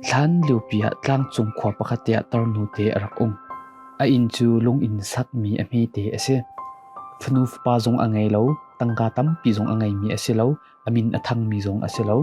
Hlan liopi ah tlangcung khua pakhat ah tornute a rak um. A inn cu lung in sakmi a hmete a si. Fanu fapa zong a ngei lo, tangka tampi zong a ngeimi a si lo, a min a thangmi zong a si lo.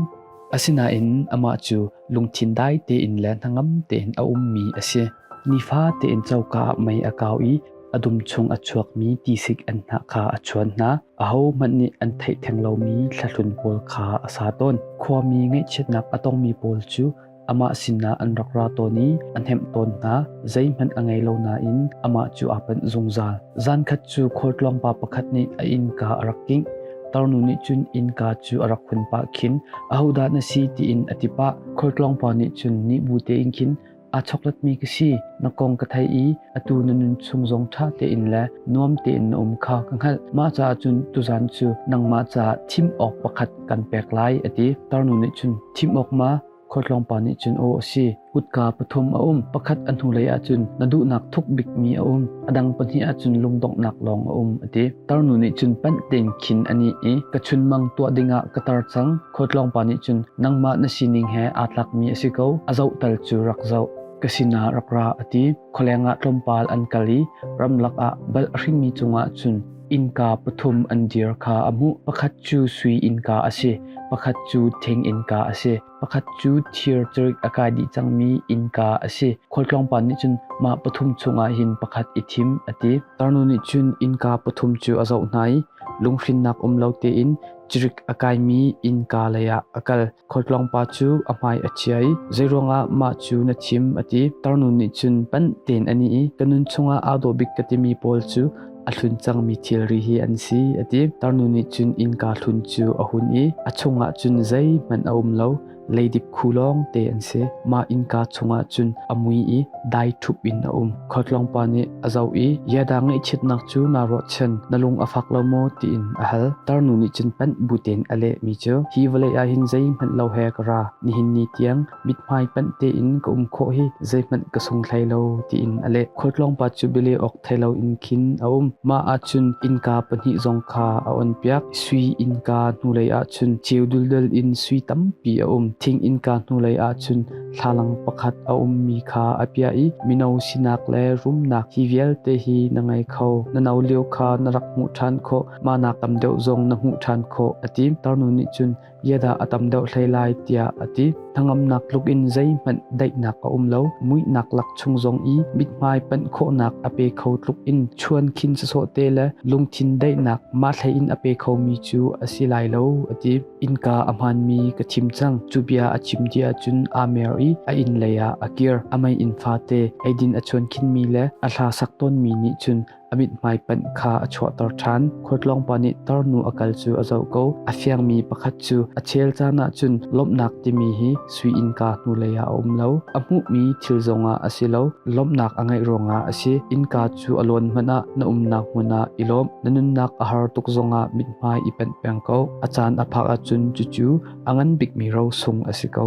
Asinain amah cu lungthin dai tein le hnangam tein a ummi a si. Nifa tein coka ah mei a kau i a dum chung a chuakmi tisik an hnah kha a chuan hna. ahohmanh nih an theih theng lomi thlahlun pawl kha a sa tawn. Khuami ngaihchiatnak a tongmi pawl cu amah sinah an rak ra tawn i a hnemh tawn hna, zeihmanh a ngei lo nain amah cu aa panh zungzal. Zankhat cu khualtlawng pa pakhat nih a innka a rak kingh. Tarnu nih cun innka cu a rak hun pah khin, ahodah na si tiin a ti pah. Khualtlawng pa nih cun nih bu tein khin, aa choklatmi ka si. Na kong ka theih i atu na nun chung zong ṭha tein le nuam tein na um kha ka hngalh. Mah caah cun tuzan cu nangmah caah thim awk pakhat kan pek lai a ti. Tarnu nih cun thim awk ma khualtlawng pa nih cun aw a si kutka pathum a um pakhat a hnulei ah cun na duhnak thuk bikmi a um a dang pahnih ah cun lungdonghnak lawng a um a ti tarnu nih cun panh tein khin a ni i ka chunmang tuah dingah ka tar cang Khuatlawngpa nih cun nangmah na sining he aa tlakmi a si ko, a zohtal cu rak zoh. Ka sinah rak ra a ti. Khualeng ah tlawmpal an kal i ramlak ah bal a hringmi cungah cun innka pathum an dir kha a hmuh. Pakhat cu sui innka a si, pakhat cu thing innka a si, pakhat cu thir cerik a kai dih cangmi innka a si. Khualtlawngpa nih cun mah pathum chungah hin pakhat i thim a ti. Tarnu nih cun innka pathum cu a zoh hna i lunghrinnak um lo tein Cirik a kaimi innka leiah a kal. Khualtlawng pa cu a hmai a chia i zeiruangah mah cu na thim a ti. Tarnu nih cun panh tein a ni i ka nun chungah aa dawh bik ka timi pawl cu a hlun cangmi thilri hi an si a ti. Tarnu nih cun innka hlun cu a hun i a chungah cun zeihmanh a um lo. Leidip khu lawng te an si. Mah innka chungah cun a mui i dai thup in a um. Khuatlawng pa nih a zoh i, Yada ngaihchiatnak cu naa ruahchan, na lung a fak lo maw? tiin a hal. Tarnu nih cun panh butin a lehmi cu, Hi vawlei ah hin zeihmanh lo he ka ra. Nihin ni tiang mithmai panh tein ka um khawh hi zeihmanh ka sung hlei lo, tiin a leh. Khuatlawng pa cu bialeh awk thei loin khin a um. Mah ahcun innka pahnih zong kha a on piak. Sui innka hnulei ahcun ceu duldul in sui tampi a um. Thing innka hnulei ahcun thlalang pakhat a ummi kha a piah i mino sinak le rumnak hi vialte hi na ngei kho. Na no lio kha na rak hmuh ṭhan khawh. Mah nak tam deuh zong na hmuh ṭhan khawh a ti. Tarnu nih cun Iahdah a tam deuh hlei lai tiah a ti. Hnangamnak tluk in zeihmanh daihnak a um lo. Muihnak lak chung zong i mithmai panh khawhnak a pe kho tluk in chuan khin sasawh te le lungthin daihnak ma thlei in a pe khomi cu a si lai lo a ti. Innka a hmaanmi ka thim cang. Cu bia a chim ti ahcun amer i a inn leiah a kir. A mei in fate eidin a chuan khinmi le a hla sak tawnmi nih cun a mithmai panh kha a chuahter ṭhan. Khuatlawng pa nih tarnu a kal cu a zoh ko. A fiangmi pakhat cu a ṭhial caan ahcun lawmhnak timi hi sui innka hnulei ah a um lo. A hmuhmi thil zongah a si lo. Lawmhnak a ngeih ruangah a si. Innka cu a lawn hmanh ah na umnak hmun ah i lawm. Na nunnak a har tuk zongah mithmai i panh peng ko. A caan a phak ahcun cucu a ngan bikmi rosung a si ko.